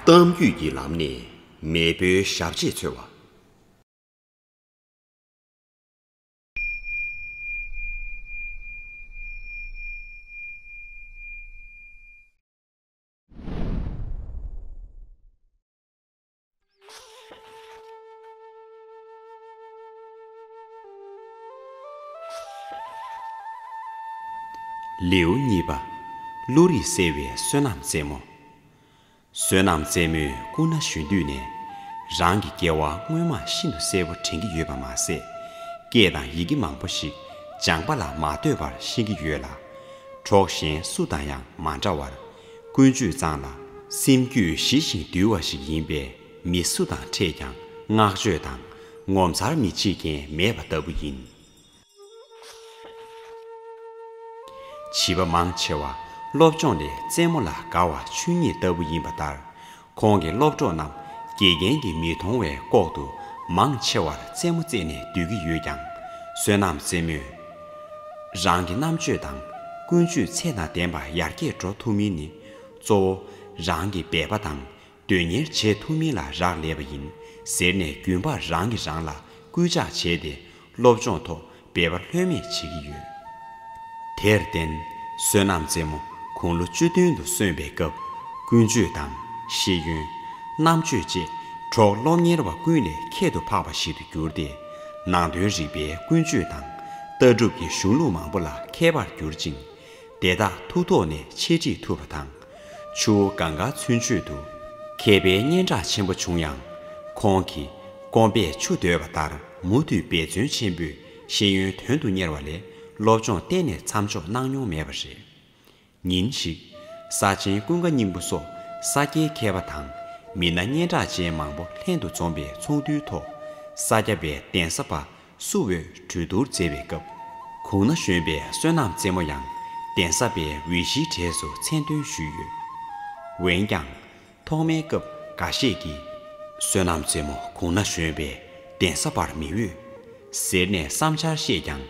གཏམ་རྒྱུད་ཀྱི་ལམ་ནས་མེས་པོའི་ཞབས་རྗེས་འཚོལ་བ། ལེའུ་གཉིས་པ། ཀླུ་རིགས་གསལ་བའི་བསོད་ནམས་རྩེ་མོ། བསོད་ནམས་རྩེ་མོས་སྐུ་ན་གཞོན་དུས་ནས། རང་གི་སྐྱེ་བ་སྔོན་མ་ཤིན་ཏུ་གསལ་བོ་དྲན་གྱི་ཡོད་པ་མ་ཟད། སྐད་དང་ཡི་གེ་མང་པོ་ཞིག་སྦྱངས་པ་ལ་མ་ལྟོས་པར་ཤེས་ཀྱི་ཡོད་ལ། གྲོགས་གཞན་སུ་དང་ཡང་མ་འདྲ་བར། ཀུན་སྤྱོད་གཙང་ལ། སེམས་རྒྱུད་ཞི་ཞིང་དུལ་བ་ཞིག་ཡིན་པས་མི་སུ་དང་འཕྲད་ཀྱང་བསྔགས་བརྗོད་དང། ངོ་མཚར་མི་བྱེད་མཁན་མེད་པ་ལྟ་བུ་ཡིན། བྱིས་པ་མང་ཆེ་བ་སློབ་སྦྱོང་ལས་རྩེད་མོ་ལ་དགའ་བ་ཆོས་ཉིད་ལྟ་བུ་ཡིན་པ་ལྟར། ཁོང་གི་སློབ་གྲོགས་རྣམས་དགེ་རྒན་གྱིས་མི་མཐོང་བའི་ལྐོག་ཏུ་མང་ཆེ་བར་རྩེད་མོ་རྩེས་ནས་སྡོད་ཀྱི་ཡོད་ཀྱང་བསོད་ནམས་རྩེད་མོས་རང་གི་རྣམ་དཔྱོད་དང་ཀུན་སྤྱོད་ཚད་དང་ལྡན་པ་ཡར་རྒྱས་འགྲོ་ཐུབ་མིན་ནི་གཙོ་བོ་རང་གི་འབད་པ་དང་དོན་གཉེར་བྱེད་ཐུབ་མིན་ལ་རག་ལས་པ་ཡིན་ཟེར་ནས་རྒྱུན་པར་རང་གིས་རང་ལ་སྐུལ་ལྕག་བྱས་ཏེ་སློབ་སྦྱོང་ཐོག་འབད་པ་ལྷོད་མེད་བྱེད་ཀྱི་ཡོད། དེར་བརྟེན། བསོད་ནམས་རྩེ་མོ་དགུང་ལོ་བཅུ་བདུན་དུ་སོན་པའི་སྐབས་ཀུན་སྤྱོད་དང། ཤེས་ཡོན། རྣམ་དཔྱོད་བཅས་གྲོགས་སློབ་གཉེར་བ་ཀུན་ལས་ཁྱད་དུ་འཕགས་པ་ཞིག་ཏུ་གྱུར་ཏེ། ནང་དོན་རིག་པའི་ཀུན་སྤྱོད་དང། ལྟ་གྲུབ་ཀྱི་གཞུང་ལུགས་མང་པོ་ལ་མཁས་པར་གྱུར་ཅིང། དེ་དག་ཐུགས་ཐོག་ནས་འཆད་ཁྲིད་ཐུབ་པ་དང། ཆུ་བོ་གངས་དཀར་ཚུན་ཆོད་དུ། མཁས་པའི་སྙན་གྲགས་ཆེན་པོ་བྱུང་ཡང། ཁོང་གིས་སྐོམ་པས་ཆུ་འདོད་པ་ལྟར། མུ་མཐུད་འབད་བརྩོན་ཆེན་པོས་ཤེས་ཡོན་དོན་དུ་གཉེར་བ་ལས་སློབ་སྦྱོང་གཏན་ནས་མཚམས་འཇོག་གནང་མྱོང་མེད་པ་རེད། ཉིན་ཞིག། ས་ཆེན་ཀུན་དགའ་སྙིང་པོ་སོགས་ས་སྐྱའི་མཁས་པ་དང་མི་སྣ་སྙན་གྲགས་ཅན་མང་པོ་ལྷན་དུ་འཛོམས་པའི་ཚོགས་འདུའི་ཐོག་ས་སྐྱ་པའི་གདན་ས་པ་སུ་འོས་གྲོས་བསྡུར་མཛད་པའི་སྐབས། གུང་ན་བཞོན་པའི་བསོད་ནམས་རྩེ་མོ་ཡང་གདན་ས་པའི་འོས་གཞིའི་གྲས་སུ་མཚན་འདོན་ཞུས་ཡོད། འོན་ཀྱང། ཐོག་མའི་སྐབས་འགའ་ཤས་ཀྱིས། བསོད་ནམས་རྩེ་མོ་གུང་ན་བཞོན་པས་གདན་ས་བར་མི་འོས། ཟེར་ནས་བསམ་འཆར་བཤད་ཀྱང།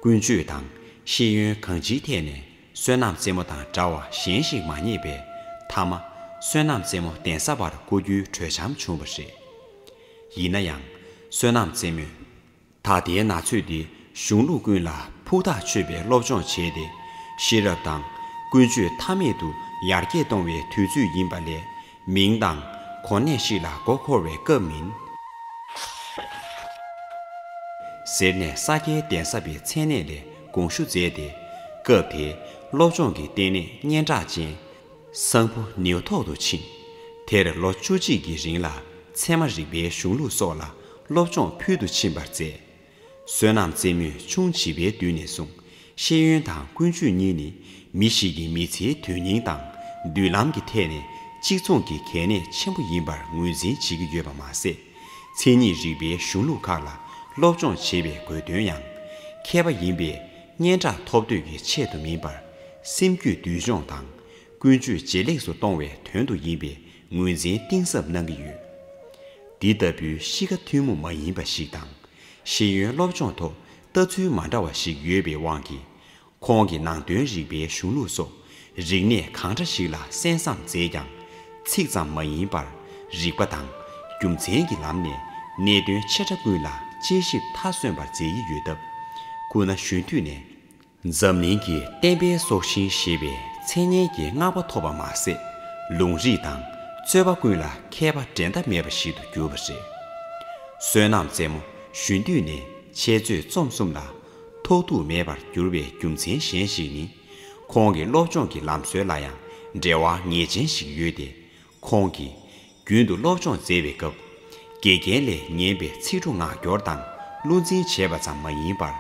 ཀུན་སྤྱོད་དང་ཤེས་ཡོན་གང་ཅིའི་ཐད་ནས་བསོད་ནམས་རྩེ་མོ་དང་འདྲ་བ་གཞན་ཞིག་མ་རྙེད་པས་མཐའ་མ། བསོད་ནམས་རྩེ་མོ་གདན་ས་བར་བསྐོ་རྒྱུའི་གྲོས་འཆམ་བྱུང་བ་རེད། ཡིན་ན་ཡང། བསོད་ནམས་རྩེ་མོས། ད་ལྟའི་ན་ཚོད་འདི་གཞུང་ལུགས་ཀུན་ལ་ཕུགས་ཐག་ཆོད་པའི་སློབ་སྦྱོང་བྱས་ཏེ། ཤེས་རབ་དང་ཀུན་སྤྱོད་མཐའ་མེད་དུ་ཡར་རྒྱས་གཏོང་བའི་དུས་ཚོད་ཡིན་པ་ལས། མིང་དང། གོ་གནས་ཤིག་ལ་མགོ་འཁོར་བའི་སྐབས་མིན། ཟེར་ནས་ས་སྐྱའི་གདན་ས་པའི་མཚན་གནས་ལས་དགོངས་ཞུ་མཛད་དེ། སྐབས་དེའི་སློབ་སྦྱོང་གི་ལྟེ་གནས་སྙན་གྲགས་ཅན་གསང་ཕུ་ནེའུ་ཐོག་ཏུ་ཕྱིན། དེར་ལོ་བཅུ་གཅིག་གི་རིང་ལ་ཚད་མ་རིག་པའི་གཞུང་ལུགས་སོགས་ལ་སློབ་སྦྱོང་ཕུལ་དུ་ཕྱིན་པར་མཛད། བསོད་ནམས་རྩེ་མོས་ཆུང་བྱིས་པའི་དུས་ནས་བཟུང་ཤེས་ཡོན་དང་ཀུན་སྤྱོད་གཉིས་ནི་མི་ཞིག་གི་མི་ཚེའི་དོན་སྙིང་དང་མདུན་ལམ་གྱི་ཐད་ནས་གཅིག་མཚུངས་ཀྱི་གལ་གནད་ཆེན་པོ་ཡིན་པར་ངོས་འཛིན་བྱེད་ཀྱི་ཡོད་པ་མ་ཟད། མཚན་ཉིད་རིག་པའི་གཞུང་ལུགས་ཁག་ལ་སློབ་སྦྱོང་བྱེད་པའི་དགོས་དོན་ཡང་ཁེལ་བ་ཡིན་པས། སྙན་གྲགས་ཐོབ་འདོད་ཀྱི་ཆེད་དུ་མིན་པར། སེམས་རྒྱུད་བསྡུས་སྦྱོང་དང་ཀུན་སྤྱོད་ཇེ་ལེགས་སུ་གཏོང་བའི་དོན་དུ་ཡིན་པའི་ངོས་འཛིན་གཏིང་ཟབ་གནང་གི་ཡོད། འདི་ལྟ་བུའི་གཤིས་ཀ་ཐུན་མོང་མ་ཡིན་པ་ཞིག་དང། ཤེས་ཡོན་སློབ་སྦྱོང་ཐོག་ལྟ་ཚུལ་མ་འདྲ་བ་ཞིག་ཡོད་པའི་དབང་གིས། ཁོང་གི་ནང་དོན་རིག་པའི་གཞུང་ལུགས་སོགས་རིག་གནས་གང་འདྲ་ཞིག་ལ་གསན་བསམ་མཛད་ཀྱང། ཚིག་ཙམ་མ་ཡིན་པར་རིགས་པ་དང་རྒྱུ་མཚན་གྱི་ལམ་ནས་གནད་དོན་ཆེ་ཕྲ་ཀུན་ལ་དཔྱད་ཞིབ་མཐའ་སོན་པར་མཛད་ཡི་ཡོད་སྟབས། སྐུ་ན་གཞོན་དུས་ནས། འཛམ་གླིང་གི་བསྟན་པའི་སྲོག་ཤིང་ཞེས་པའི་མཚན་སྙན་གྱི་བསྔགས་པ་ཐོབ་པ་མ་ཟད། ལུང་རིགས་དང་རྩོད་པ་ཀུན་ལ་མཁས་པ་འགྲན་ཟླ་མེད་པ་ཞིག་ཏུ་གྱུར་པ་རེད། བསོད་ནམས་རྩེ་མོ་གཞོན་དུས་ནས་འཆད་རྩོད་རྩོམ་གསུམ་ལ་ཐོགས་རྡུགས་མེད་པར་གྱུར་པའི་རྒྱུ་མཚན་གཞན་ཞིག་ནི། ཁོང་གི་སློབ་སྦྱོང་གི་ལམ་སྲོལ་ལ་ཡང་འབྲེལ་བ་ངེས་ཅན་ཞིག་ཡོད་དེ། ཁོང་གིས། རྒྱུན་དུ་སློབ་སྦྱོང་མཛད་པའི་སྐབས། དགེ་རྒན་ལས་ཉན་པའི་ཚིག་འབྲུ་ངག་སྐྱོར་དང་བློ་འཛིན་བྱས་པ་ཙམ་མ་ཡིན་པར།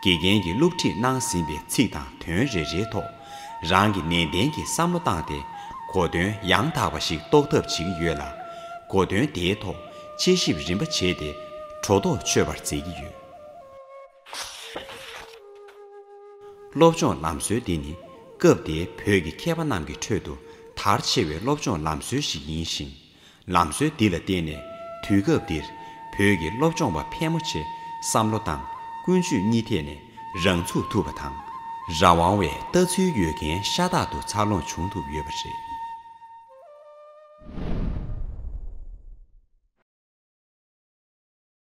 དགེ་རྒན་གྱིས་སློབ་ཁྲིད་གནང་ཟིན་པའི་ཚིག་དང་དོན་རེ་རེའི་ཐོག་རང་གིས་ནན་ཏན་གྱིས་བསམ་བློ་བཏང་སྟེ། གོ་དོན་ཡང་དག་པ་ཞིག་རྟོགས་ཐབས་བྱེད་ཀྱི་ཡོད་ལ། གོ་དོན་དེའི་ཐོག་དཔྱད་ཞིབ་རིམ་པ་བྱས་ཏེ། གྲོ་ཐོག་ཆོད་པར་མཛད་ཀྱི་ཡོད། སློབ་སྦྱོང་ལམ་སྲོལ་འདི་ནི་སྐབས་དེའི་བོད་ཀྱི་མཁས་པ་རྣམས་ཀྱི་ཁྲོད་དུ་དར་ཆེ་བའི་སློབ་སྦྱོང་ལམ་སྲོལ་ཞིག་ཡིན་ཞིང། ལམ་སྲོལ་འདི་ལ་བརྟེན་ནས་དུས་སྐབས་འདིར་བོད་ཀྱི་སློབ་སྦྱོང་པ་ཕལ་མོ་ཆེ་བསམ་བློ་དང་ཀུན་སྤྱོད་གཉིས་ཐད་ནས་རང་ཚུགས་ཐུབ་པ་དང། རང་དབང་བའི་ལྟ་ཚུལ་ཡོད་མཁན་ཤ་སྟག་ཏུ་འཚར་ལོངས་བྱུང་ཐུབ་ཡོད་པ་རེད།